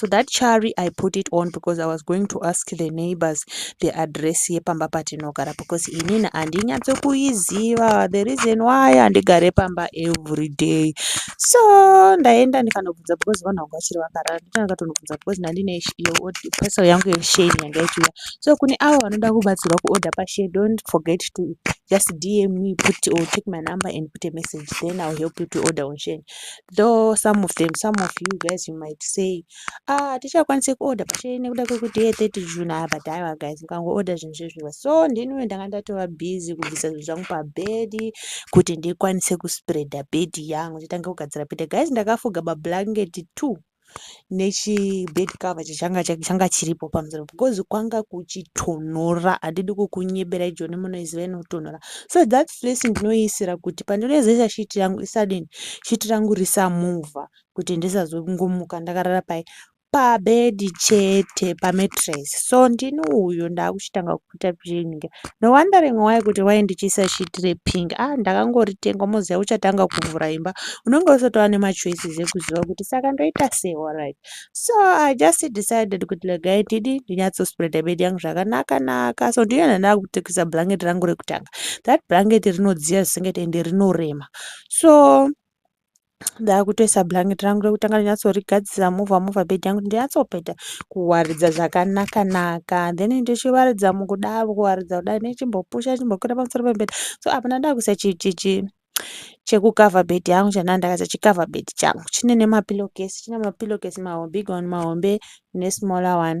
so that chari i put it on because i was going to ask the neighbors the address yepamba patinogara because inini handinyatse kuiziva the reason why handigare pamba every day so ndaenda ndikanobvunza because vanhu vangu vachiri vakarara ndikanatonobvunza because ndandine parcel yangu yesheni yanga ichiuya so kune avo vanoda kubatsirwa kuorder pashe don't forget to just dm me put or take my number and put a message then ill help you to order on sheni though some of them some of you guys you might say ah hatichakwanise kuorder pachee nekuda kwekuti ye 30 june aya but aiwa guys mukangoorder zvinhu zvezviwa so ndiniwe ndanga ndatova busy kubvisa zvinhu zvangu pabhedi kuti ndikwanise kuspreada bhedi yangu nditange kugadzira bhedi guys ndakafuga mablanketi two nechibed cover chachanga changa chiripo pamusoro because kwanga kuchitonhora handidi kukunyebera ijoni munoiziva inotonhora so that face ndinoiisira kuti pandinoizesa shiti yangu isadini shiti rangu risamuvha kuti ndisazongomuka ndakarara pai pabedi chete pametres so ndini uyo ndaakuchitanga ku kuita pink no wondering why kuti why ndichiisa sheet repink ah ndakangoritenga moziva uchatanga kuvhura imba unenge usatova nemachoices ekuziva kuti saka ndoita sei alright so i just decided kuti legai tidi ndinyatsospreada bed yangu zvakanaka naka so ndiyona ndakutekisa blanket rangu rekutanga that blanket rinodziya zvisingatendi rinorema so ndakutoisa blanket rangu rekutanga ndinyatsorigadzisa mova mova bed yangu ndinyatsopeta kuwaridza zvakanaka naka then ndichiwaridza mukudaro kuwaridza kudai nechimbopusha chimbokwira pamusoro pebed so apa ndakuisa chichichi chekukava bed yangu chandaa ndakaisa chikava bed changu chine nemapilokesi chine mapilokesi mahombe igoni mahombe nesmaller one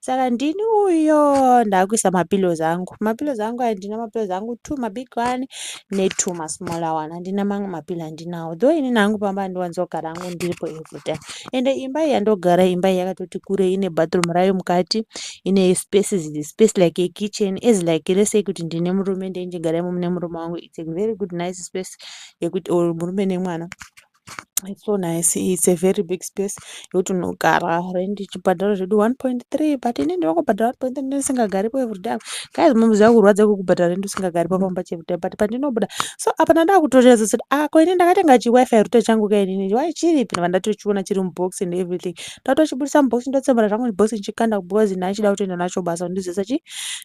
saka ndini uyo ndakuisa mapillows angu mapillows angu aya ndina mapillows angu two mabig one netwo masmaller one handina mamwe mapillo andinawo though inini hangu pamba andiwanzogara angu ndiripo every time ende imba iyi yandogara imba iyi yakatoti kure ine bathroom rayo mukati ine spaces space like a kitchen as like let's say kuti ndine murume ndeindigara imomo nemurume wangu it's a very good nice space yekuti or murume nemwana It's so nice. It's a very big space yekuti unogara rent ichibhadhara zvedu 1.3 but ini ndiri kungobhadhara 1.3 ndisingagaripo everyday apa. Guys mom zviya kurwadza kwekubhadhara rent usingagaripo pamba cheveday but pandinobuda so apa ndandava kutorealiza kuti ah ko ini ndakatenga chiwifi router changu ka inini why chiripi ndava ndatochiona chiri mubox and everything ndatochibudisa mubox ndotsemura zvangu mubox ndichikanda because nhai chida kutoenda nacho basa ndizoisa chi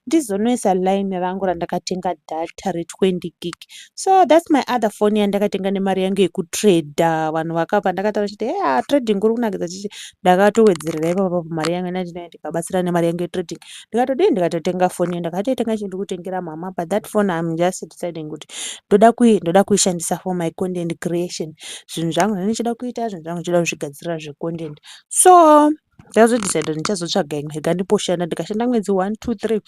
ndizonoisa line rangu randakatenga data re 20 gig so thats my other foni yandakatenga nemari yange yekutrader vanhu vakapa ndakatara chiti he a trading kuri kunakidza chichi ndakatowedzerera ipapapa pamari yange nandinai ndikabatsira nemari yange yetrading ndikatodii ndikatotenga foni yo ndakatoitenga chii ndikutengera mama but that foni im just deciding kuti ndoda kui ndoda kuishandisa for my content creation zvinhu zvangu zvani ndichida kuita zvinhu zvangu ndichida kuzvigadzirira zvecontent so ndazodecide ndichazotsvaga imwe ikandiposhanda ndikashanda mwedzi one two three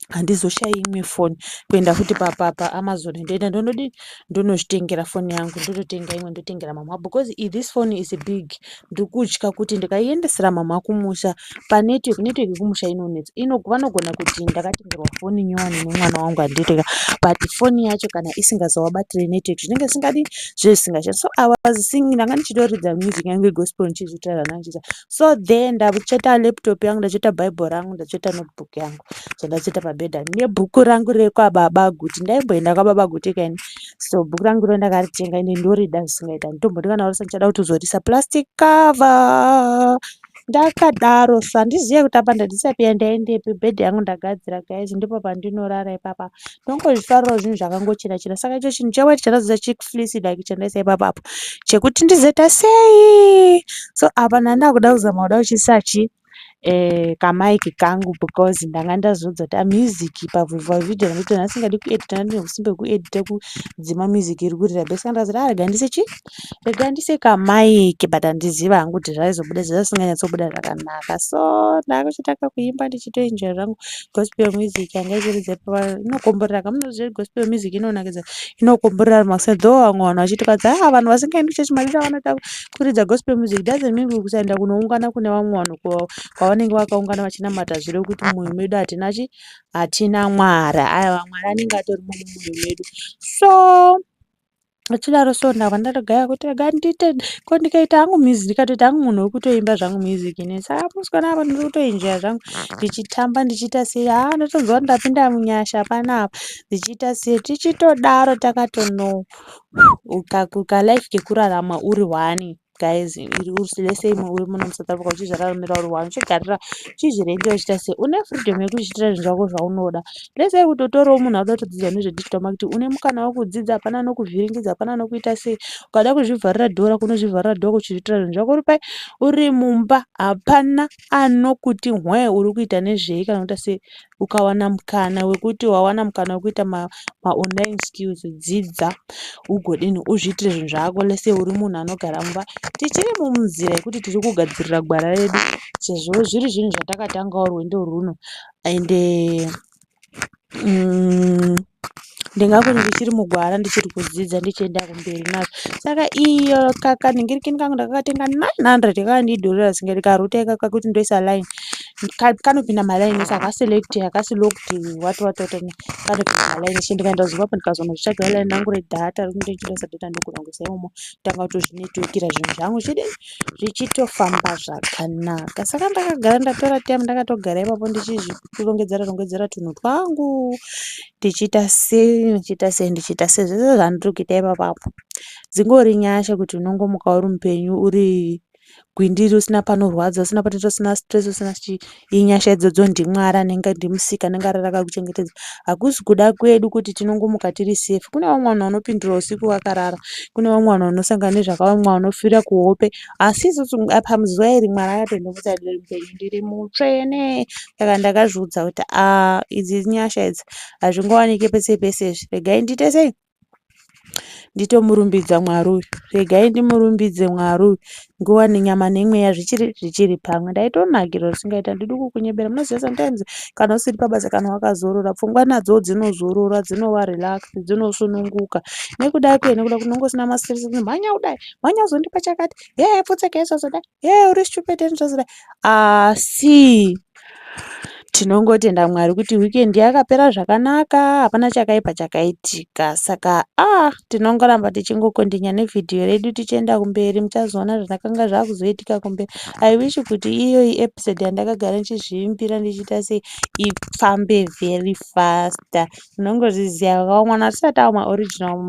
handizoshayi imwe foni kuenda futi paamazon ndoenda ndonodii ndonozvitengera foni yangu ndototenga imwe ndotengera mhamha because this foni is big ndiri kutya kuti ndikaiendesera mhamha kumusha panetwork network yekumusha inonetsa vanogona kuti ndakatengerwa foni nyowani nemwana wangu handitenga but foni yacho kana isingazovabatire network zvinenge zvisingadi zvinenge zvisingashandi so i was singing ndanga ndichitoridza music yangu yegospel ndichizvitaura ndanga ndichiita so there ndakucheta laptop yangu ndacheta bible rangu ndacheta notebook yangu so ndacheta pabhedha nebhuku rangu rekwababa guti ndaimboenda kwababa guti kani so bhuku rangu ro ndakaritenga ine ndorida zvisingaita nditomboti kana warisa ndichada kuti uzorisa plastic cover ndakadaro so handizive kuti apa ndandisapia ndaendepi bhedha yangu ndagadzira guys ndipo pandinorara ipapa ndongozvifarirawo zvinhu zvakangochena chena saka icho chinhu chewhite chandazoita chiflisi like chandaisa ipapa apo chekuti ndizoita sei so apa ndandakuda kuzama kuda kuchisachi eh, kamaiki kangu because ndanga ndazodza kuti amusic pavhivhavideo nekuti ndasingadi kuedita ndine usimbe hwekuedita kudzima music iri kurira bese ndazoti arega ah, ndise chii Rega ndise kamaiki but handiziva hangu kuti zvaizobuda sei zvisinganyatsobuda zvakanaka so ndakuchita kakuimba ndichitoenjoya zvangu gospel music yanga ichiridza ipapo inokomborera kamunoziva kuti gospel music inonakidza inokomborera makuse though vamwe vanhu vachitokadza ah vanhu vasingaendi kuchechi madira vanoita kuridza gospel music doesn't mean kuti kusaenda kunoungana kune vamwe vanhu kwa- kwavanenge vakaungana vachinamata zvirevo kuti mumwoyo medu hatina chi hatina mwari aya vamwari anenge atori mumwoyo medu so Achidaro so ndabva ndatogaya kuti rega ndiite ko ndikaita hangu music ndikatoita hangu munhu wekutoimba zvangu music ini saka musikana apa ndiri kutoenjoya zvangu ndichitamba ndichiita sei haa ndotonzwa kuti ndapinda munyasha panapa ndichiita sei tichitodaro takatono ukalife kekurarama uri one guys iri usi lese imwe uri muno musouth africa uchizvara rumira uri one uchigarira uchizvirenda uchiita se une freedom yekuzviitira zvinhu zvako zvaunoda lese kutotorawo munhu auda kutodzidza nezvedigital marketing une mukana wekudzidza hapana anokuvhiringidza hapana anokuita sei ukada kuzvivharira dhora kunozvivharira dhora kuchizviitira zvinhu zvako uri pai uri mumba hapana anokuti hwee uri kuita nezvei kana kuita sei ukawana mukana wekuti wawana mukana wekuita ma, ma online skills dzidza ugodini uzviitire zvinhu zvako lese uri munhu anogara mumba tichiri mumuzira yekuti tiri kugadzirira gwara redu sezvo zviri zvinhu zvatakatangawo rwendo rwuno ende uh, umm ndingange ndichiri mugwara ndichiri kudzidza ndichienda kumberi nazvo saka iyo kanhingirikini kangu ndakakatenga nine hundred kakandidhurira zvisingaperi ndikarouta ikako kuti ndoisa line kanopinda maline ese hakaselekti hakasi lokti what what what kanopinda maline ese ndikaenda kuzimbabwe ndikazonozvitsvagira line rangu redhata rekuti ndichitoisa dhata ndokurongesa imomo tanga kutozvinetwekira zvinhu zvangu chidi zvichitofamba zvakanaka saka ndakagara ndatora time ndakatogara ipapo ndichizvi kurongedzera rongedzera tunhu twangu tichiita sei ndichiita sei ndichiita sei zvese zvandiri kuita ipapo apo dzingori nyasha kuti unongomuka uri mupenyu uri gwindiri usina panorwadza usina patoita usina stress usina chii inyasha idzodzo ndimwari anenge ndimusika anenge arara akakuchengetedza hakusi kuda kwedu kuti tinongomuka tiri safe kune vamwe vanhu vanopindura usiku vakarara kune vamwe vanhu vanosangana nezvakavamwe vanofira kuhope Asi isusu apa muzuva iri Mwari akatoenda kuti ndiri mupenyu, ndiri mutsvene. Saka ndakazviudza kuti ah idzi inyasha idzi hazvingowanike pese pese izvi. Regai ndiite sei? Nditomurumbidza Mwari uyu. Regai ndimurumbidze Mwari uyu. Nguva nenyama nemweya zvichiri zvichiri pamwe. Ndaitonakirwa zvisingaita handidi kukunyebera. Munoziva sometimes kana usiri pabasa kana wakazorora pfungwa nadzo dzinozorora dzinova relaxed dzinosununguka. Nekuda kei? Nekuda kunenge usina mastress kumhanya kudai wanyazondipa chakati hee pfutseke yesazoda hee uri stupid ndizvazoda asi tinongotenda mwari kuti weekend yakapera zvakanaka hapana chakaipa chakaitika saka ah tinongoramba tichingokondinya nevhidhiyo redu tichienda kumberi muchazoona zvakanga zvakuzoitika kumberi i wish kuti iyoyi episode yandakagara ndichizviimbira ndichiita sei ifambe very faster Munongozviziva havo mwana hatisati ava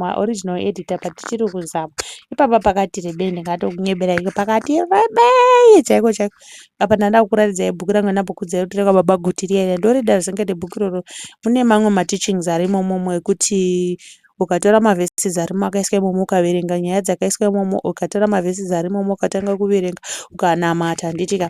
maoriginal editor but tichiri kuzama. Ipapa pakati rebei ndingatokunyebera iko pakati rebei chaiko chaiko. Apa ndandava kukuratidzai bhuku rangu randambokuudzai kuti rekwaBaba Guti riya riya. Ndorida zvisingaite bhuku iroro. Mune mamwe mateachings arimo imomo ekuti ukatora maverses arimo akaiswa imomo ukaverenga nyaya dzakaiswa imomo ukatora maverses arimo ukatanga kuverenga ukanamata handitika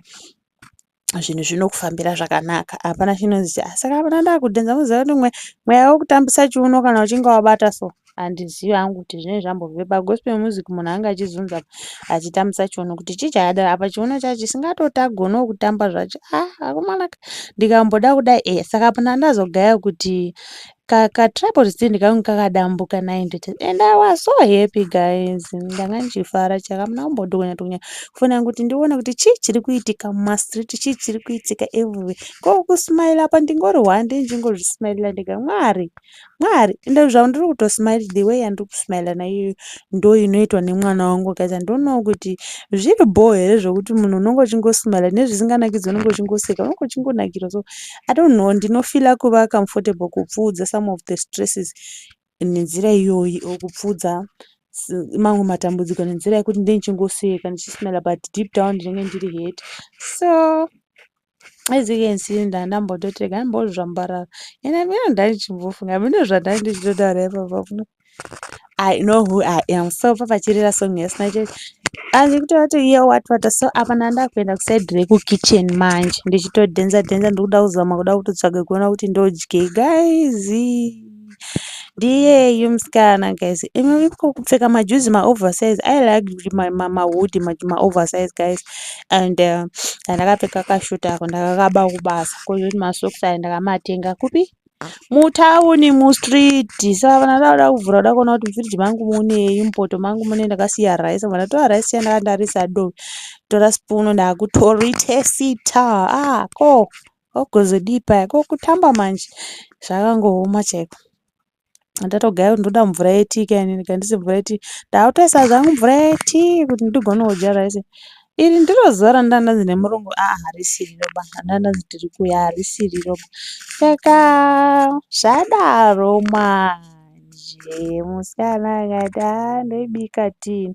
zvinhu zvinokufambira zvakanaka hapana chinonzi asi kana mwana ndakudhenza moziva kuti mwe mweya wekutambisa chiuno kana uchinge wabata so handizivi hangu kuti zvinenge zvambove pagospel music munhu ange achizunza achitambisa chiuno kuti chii chakadaro apa chiuno chacho chisingatoti agonewo kutamba zvacho ah akomanaka ndikamboda kudai e saka pana ndazogaya kuti ka ka tripod stand kangu kakadambuka naindithi and i was so happy guys ndanga ndichifara chaka hamuna kumbodhokonya dhokonya foni yangu kuti ndione kuti chii chiri kuitika mumastreet chii chiri kuitika everywhere ko kusmaila apa ndingori hwande ndingozvismailira ndega mwari mwari ende zvavo ndiri kutosmail the way yandiri kusmaila naiyoyo ndo inoitwa nemwana wangu guys andionawo kuti zviri bhoo here zvekuti munhu unenge uchingosmaila nezvisinganakidzi unenge uchingoseka unenge uchingonakirwa so I don't know ndinofila kuva comfortable kupfuudza some of the stresses nenzira iyoyi or kupfuudza mamwe matambudziko nenzira yekuti ndini chingoseka ndichismela but deep down ndinenge ndiri hurt so as you can see nda ndambototega ndambozvambarara and amene ndaichimbofunga amene zvandai ndichitotaura ipapa I know who I am. So papa chirira song yasina church. Anzi kutora to hear what what so apa nanda kuenda ku side reku kitchen manje ndichito dhenza dhenza ndikuda kuzama kuda kutotsvaga kuona kuti ndodye guys. Ndiye you mskana guys. Imi iko kupfeka ma juzi ma oversize. I like my mama hood ma, ma oversize guys. And uh, ndakapfeka kashuta ako ndakakaba kubasa. Ko ma socks ayo ndakamatenga kupi? Mutown mustreet saka vanhu vanoda kuvhura voda kuona kuti mufridge mangu munei mupoto mangu munei ndakasiya rice vanhu vatora rice yandanga ndarisa do kutora spoon ndakutoritesita ah ko kwakuzodii paya ko kutamba manje zvakangooma chaiko. Ndatogaya kuti ndoda mvura yetii ka inini ka handisi mvura yetii. Ndakutoisa zvangu mvura yetii kuti ndigone kudya rice. Iri ndiro zuva randanga ndanzi nemurungu aa harisi riroba. Ndanga ndanzi tiri kuuya harisi riroba. Saka zvadaro manje musikana akati aa ndoibika tii.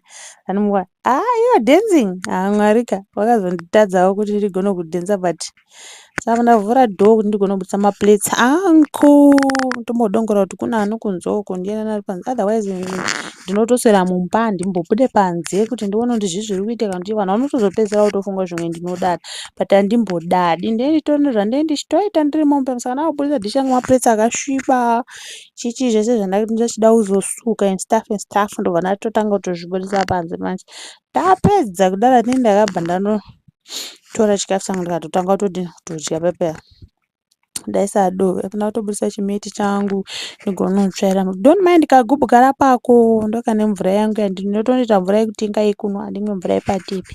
Anondimbwa aa you are dancing aa Mwari ka. Vakazonditadzawo kuti ndigone kudhenza but Saka ndavhura door kuti ndigone kubudisa ma plates angu ndombodongorera kuti kune anokunze uko ndiani ari panze otherwise ndinotoswera mumba handimbobude panze kuti ndione kuti zvii zviri kuitika nekuti vanhu vanotozopedzisira votofunga kuti zvimwe ndinodada but handimbodadi ndini nditori nezvandinenge ndichitoita ndiri mumba umu saka ndakubudisa dish ranga rema plates akasviba chii chii zvese zvandanga ndichida kuzosuka and stuff and stuff ndobva ndatotanga kutozvibudisa panze manje ndapedza kudaro ini ndakabva ndano. tora chikafu changu ndikatotanga kutodini kutodya pepeya ndaisadove apana kutobudisa chimeti changu ndigonotsvaira don't mind kagubhu kara pako ndokane mvura yangu yandinotonoita mvura yekuti inga yekunwa handimwe mvura yepatepi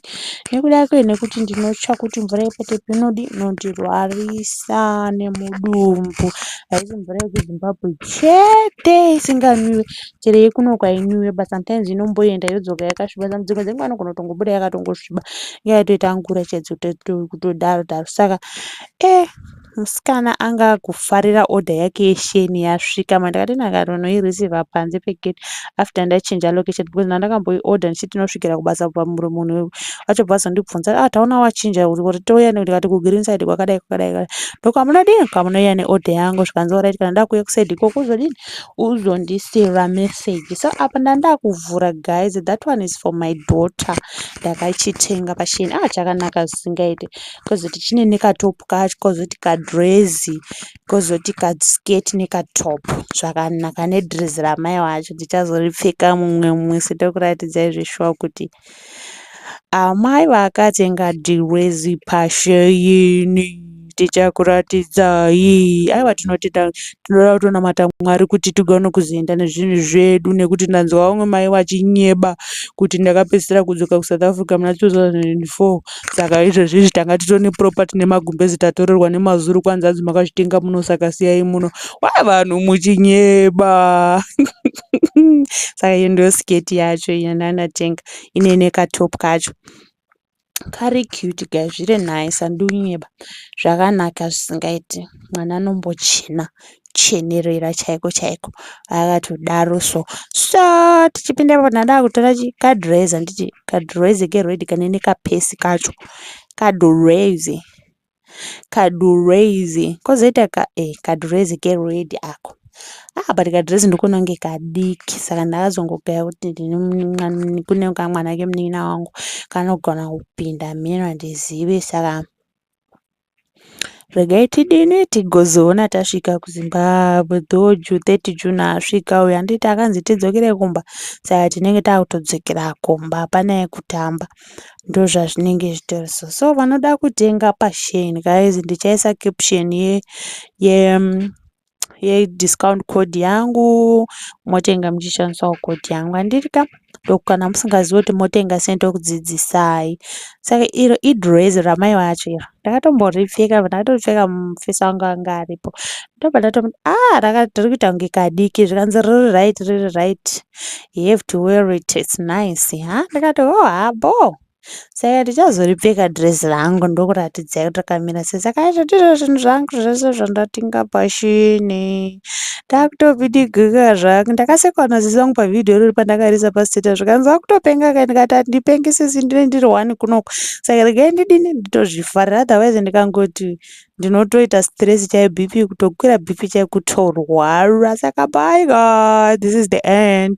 nekuda kwe nekuti ndinotya kuti mvura yepatepi inodi inondirwarisa nemudumbu haisi mvura yekuzimbabwe chete isinganwiwe chero yekuno kwainwiwa but sometimes inomboenda yodzoka yakasviba dzimwe dzenguva anogona kutongobuda yakatongosviba inga yatoita ngura chaidzo kutodaro daro saka e eh, musikana anga akufarira order yake yesheni yasvika ma ndakati ndakatonoireceiva panze pegate after ndachinja location because nandakamboi order ndichiti tinosvikira kubasa pamuri munhu wacho basa ndibvunza a ah, taona wachinja uri touya nekuti kati kugreen side kwakadai kwakadai ndokuti hamunodii kwamunoiya neorder yangu zvikanzi oraiti kana ndakuuya kusaidi ikoko uzodini uzondisiira message so apa ndandakuvhura guys that one is for my daughter ndakachitenga paShein ah chakanaka zvisingaite kozoti chine nekatop kacho kozoti kadress kozoti kaskirt nekatop zvakanaka nedress ramai wacho ndichazoripfeka mumwe musi tokuratidzai zveshuwa kuti Amai vakati ngadirwe zipasheini tichakuratidzai aiwa tinotenda tinoda kutonamata mwari kuti tigone kuzoenda nezvinhu zvedu nekuti ndanzwa vamwe mai vachinyeba kuti ndakapedzisira kudzoka kusouth africa muna 2004 saka izvezvizvi tanga titone property nemagumbezi tatorerwa nemazuru kwanzi anzi makazvitenga muno saka siyai muno wa vanhu muchinyeba saka iyo ndiyo sketi yacho yananatenga ine nekatop kacho kari cute guy zviri nice andiunyeba zvakanaka zvisingaiti mwana anombochena chenerera chaiko chaiko akatodaro so so tichipinda ipapo ndada kutora kadrez handiti kadrez keredi kanene kapesi kacho kadrez Kadurezi kozoita ka eh kadurezi kered ako. Ah but kadurezi ndikuona kunge kadiki saka ndakazongogaya kuti kune kamwana kemunin'ina wangu kanogona kupinda mheno handizive saka regai tidini tigozoona tasvika kuzimbabwe though ju 30 june asvika uyo handiti akanzi tidzokere kumba saka tinenge takutodzokera kumba hapana yekutamba ndozvazvinenge zvitori so so vanoda kutenga pashen guys ndichaisa caption ye ye yediscount code yangu motenga muchishandisawo code yangu handiri ka ndokukana musingazivi kuti motenga sei ndokudzidzisai saka iro idress ramai vacho iro ndakatomboripfeka ndakatoripfeka mufesi wangu anga aripo ndobva ndatomuti a ah, raka tiri kuita kunge kadiki zvikanzi riri right riri right you have to wear it it's nice ha ndikati oh ha boo saka tichazoripfeka dress rangu ndokuratidzai kuti rakamira sei saka aizvo ndizvo zvinhu zvangu zvese zvandatinga pashini ndakutobidigika zvangu ndakasekwa naziso wangu pavhidhiyo irori pandakarisa pasteta zvikanzi akutopenga kai ndikati handipenge sisi ndine ndiri one kunoku saka regai ndidini nditozvifarira otherwise ndikangoti so ndinotoita stress chaiyo BP kutokwira BP chaiyo kutorwara saka bye guys this is the end.